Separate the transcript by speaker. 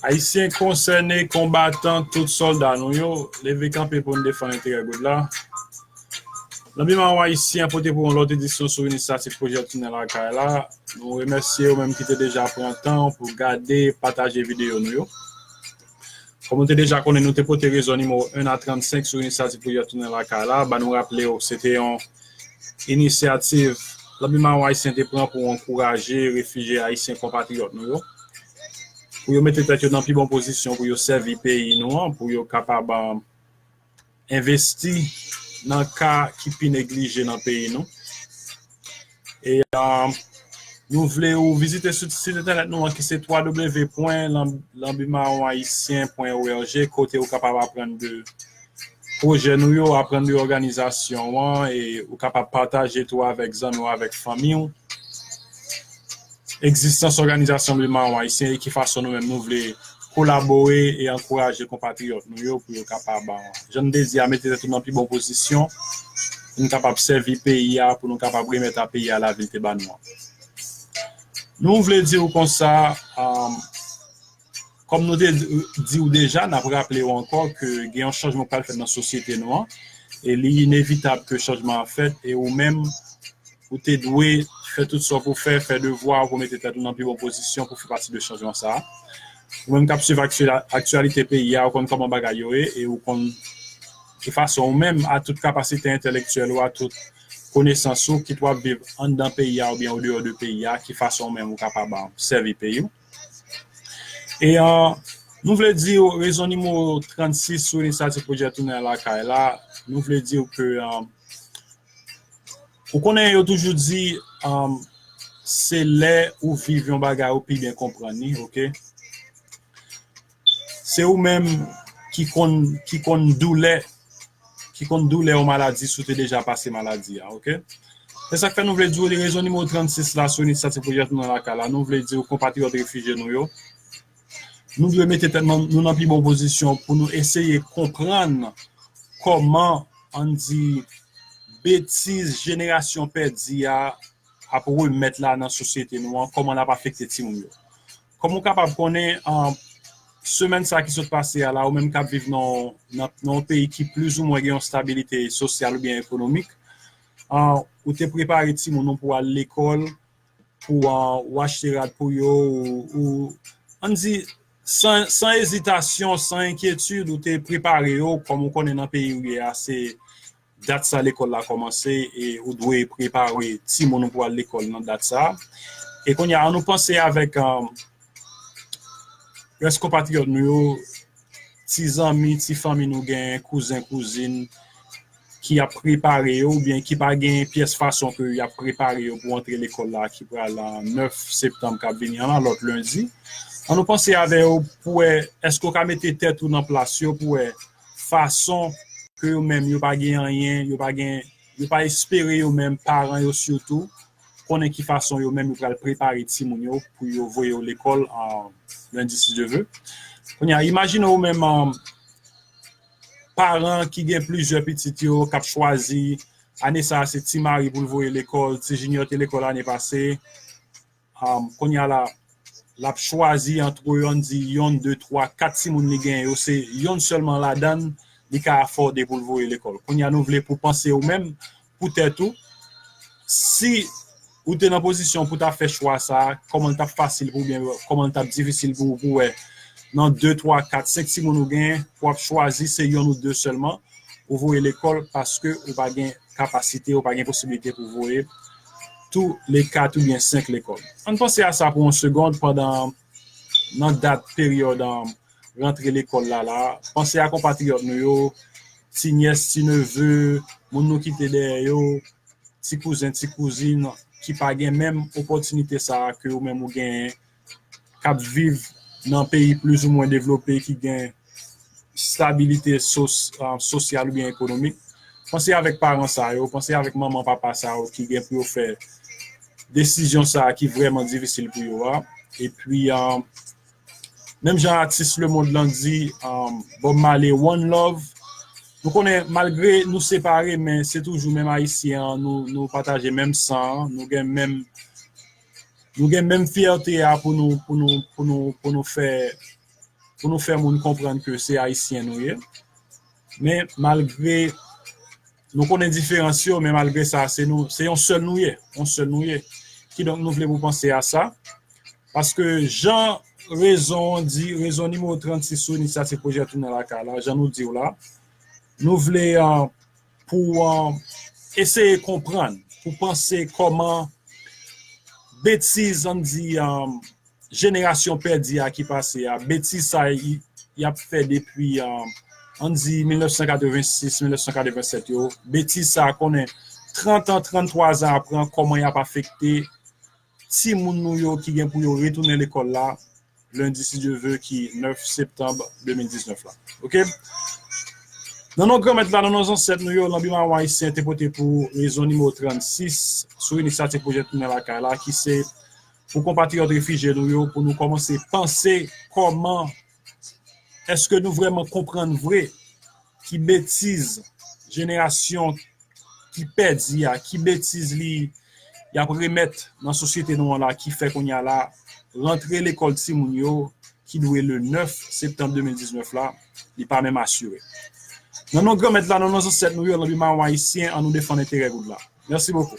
Speaker 1: Ayisyen konsène, konbatan, tout sòlda nou yo, leve kanpe pou n defann enterè Gold la. Lanbi Mawon Ayisyen pote pou ou lòt edisyon sou inisyativ pwojè Tounen Lakay la. Nou remèsye ou menm ki te deja pran tan ou pou gade, pataje videyo nou yo. Kòm ou te deja konnen nou te pote rezon nimewo 1 a 35 sou inisyativ Privyè tounen lakay la, ba nou raple w se te yon inisyativ Lanbi Mawon Ayisyen te pran pou ankouraje refijye ayisyen konpatriyòt nou yo pou yo mete tèt yo nan pi bon pozisyon pou yo sèvi peyi nou an, pou yo kapab. envesti nan ka ki pi neglije nan peyi nou. E nou vle ou vizite sou sit entènèt nou an ki se www.lanbimaronhaitien.org kote ou kapab aprann de pwojè nou yo, aprann de òganizasyon an e ou kapab pataje tou avèk zanmi ou, avèk fanmi ou. egzistans òganizasyon Ble Mawon Ayisyen e ki fason nou menm nou vle kolabore e ankouraje konpatriyòt nou yo pou yo kapab, jan m te di a, mete tèt yo nan pi bon pozisyon pou nou kapab sèvi peyi a, pou nou kapab remèt a peyi a lavi l te ba nou an. Nou vle di ou konsa. Kòm nou te di ou deja, n ap raple ou ankò ke gen yon chanjman k pral fèt nan sosyete nou an, e li inevitab ke chanjman an fèt, e ou menm ou te dwe fè tout sa w pou fè, fè devwa ou pou mete tèt ou nan pi bon pozisyon pou fè pati de chanjman sa a. Ou menm k ap swiv aktyalite peyi a, ou konn kòman bagay yo ye, e ou konn ki fason ou menm, a tout kapasite entelektyèl ou, a tout konesans ou, kit w ap viv anndan peyi a oubyen andeyò de peyi a, ki fason ou menm ou kapab sèvi peyi ou. E nou vle di w rezon nimewo 36 sou inisyativ pwojè Tounen al lakay la, nou vle di w ke ou konnen yo toujou di se lè ou viv yon bagay ou pi byen konprann li, ok. Se ou menm ki konn ki konn doulè ki konn doulè yon maladi si w te deja pase maladi a ok. Se sa k fè nou vle di w li rezon nimewo 36 la Sony sa se pwojè nou nan lakay la nou vle di w konpatriyòt refijye nou yo nou dwe mete tèt nan nou nan pi bon pozisyon pou nou eseye konprann kòman ann di betiz jenerasyon pèdi a ap remèt la nan sosyete nou an kòman l ap afekte timoun yo. Kòm ou kapab konnen, semèn sa ki sot pase a la, ou menm k ap viv nan yon peyi ki plizoumwen gen yon stabilite sosyal oubyen ekonomik, ou te prepare timoun ou pou yo al lekòl, pou ou achte rad pou yo, ou, ann di, san ezitasyon, san enkyetid, ou te prepare yo, kòm ou konnen nan peyi ou ye a, se. Dat sa lekòl la kòmanse e ou dwe prepare timoun ou pou al lekòl nan dat sa. E kounye a, an nou panse avèk rès konpatriyòt nou yo, ti zanmi, ti fanmi nou genyen, kouzen, kouzin ki ap prepare yo oubyen ki pa gen pyès fason ke y ap prepare yo pou antre lekòl la ki pral 9 septanm k ap vini an la, lòt lendi. An nou panse avè yo pou wè èske ou ka mete tèt ou nan plas yo pou wè fason ke yo menm yo pa gen anyen, yo pa gen, yo pa espere yo menm, paran yo sitou, konnen ki fason yo menm yo pral prepare timoun yo pou yo voye yo lekòl Lundi si Dieu veut. Kounye a, imajine ou menm paran ki gen plizyè pitit yo k ap chwazi, ane sa a se Ti Mari pou l voye lekòl, Ti Jinyò te lekòl ane pase, Konya la lap chwazi antre yo ann di yonn de twa kat timoun li genyen yo se yonn sèlman ladann li ka afòde poul voye lekòl konya nou vle pou panse ou menm pou tèt ou si ou te nan pozisyon pou ta fè chwa sa kòman li tap fasil pou oubyen kòman li tap difisil pou ou pou wè nan de twa kat senk timoun ou genyen pou ap chwazi se yonn ou de sèlman ou voye lekòl paske ou pa gen kapasite ou pa gen posibilite pou voye tou le kat oubyen senk lekòl. Ann panse a sa pou yon segond pandan nan dat peryòd rantre lekòl la la a. Panse a konpatriyòt nou yo, ti nyès, ti neve, moun nou kite dèyè yo, ti kouzen, ti kouzin ki pa gen menm opòtinite sa a ke ou menm ou genyen. kap viv nan peyi plis ou mwen devlope ki gen stabilite sosyal oubyen ekonomik, panse avèk paran sa yo, panse avèk manman papa sa yo ki gen pou yo fè desizyon sa ki vrèman difisil pou yo a. Epi menm jan atis lemond lan di Bob Marley one love nou konnen malgre nou separe men se toujou menm ayisyen an nou pataje menm san an nou gen menm Nou gen menm fyète a pou nou pou nou pou nou pou nou fè pou nou fè moun konprann ke se ayisyen nou ye. Men malgre nou konnen diferans yo men malgre sa se nou se yon sèl nou ye, yon sèl nou ye. Kidonk nou vle pou panse a sa paske jan rezon an di, rezon nimewo 36 sou inisyativ pwojè tounen lakay la jan nou di w la nou vle pou eseye konprann, pou panse kòman betiz an di jenerasyon pèdi a ki pase a, betiz sa y ap fè depi an di 1986, 1987 yo, betiz sa konnen 30 an, 33 zan apre kòman y ap afekte Timoun nou yo ki gen pou yo retounen lekòl la lendi si Dye ve ki 9 septanb 2019 la. Ok. Nan non Granmèt la, nan non zansèt nou yo, lanbi mawon ayisyen te pote pou rezon nimewo 36 sou inisyativ Pwojè Tounen Lakay la ki se pou konpatriyòt refijye nou yo pou nou kòmanse panse kòman Eske nou vreman konprann vre ki betiz jenerasyon ki pedi a, ki betiz li yap remet nan sosyete nou an la ki fè kounya la rantre lekol ti moun yo ki dwe le 9 septanm 2019 la li pa menm asire. Nan non Granmèt la, nan non Zansèt nou yo, nan bi Mawon Ayisyen an nou defann enterè goud la. Mèsi bokou.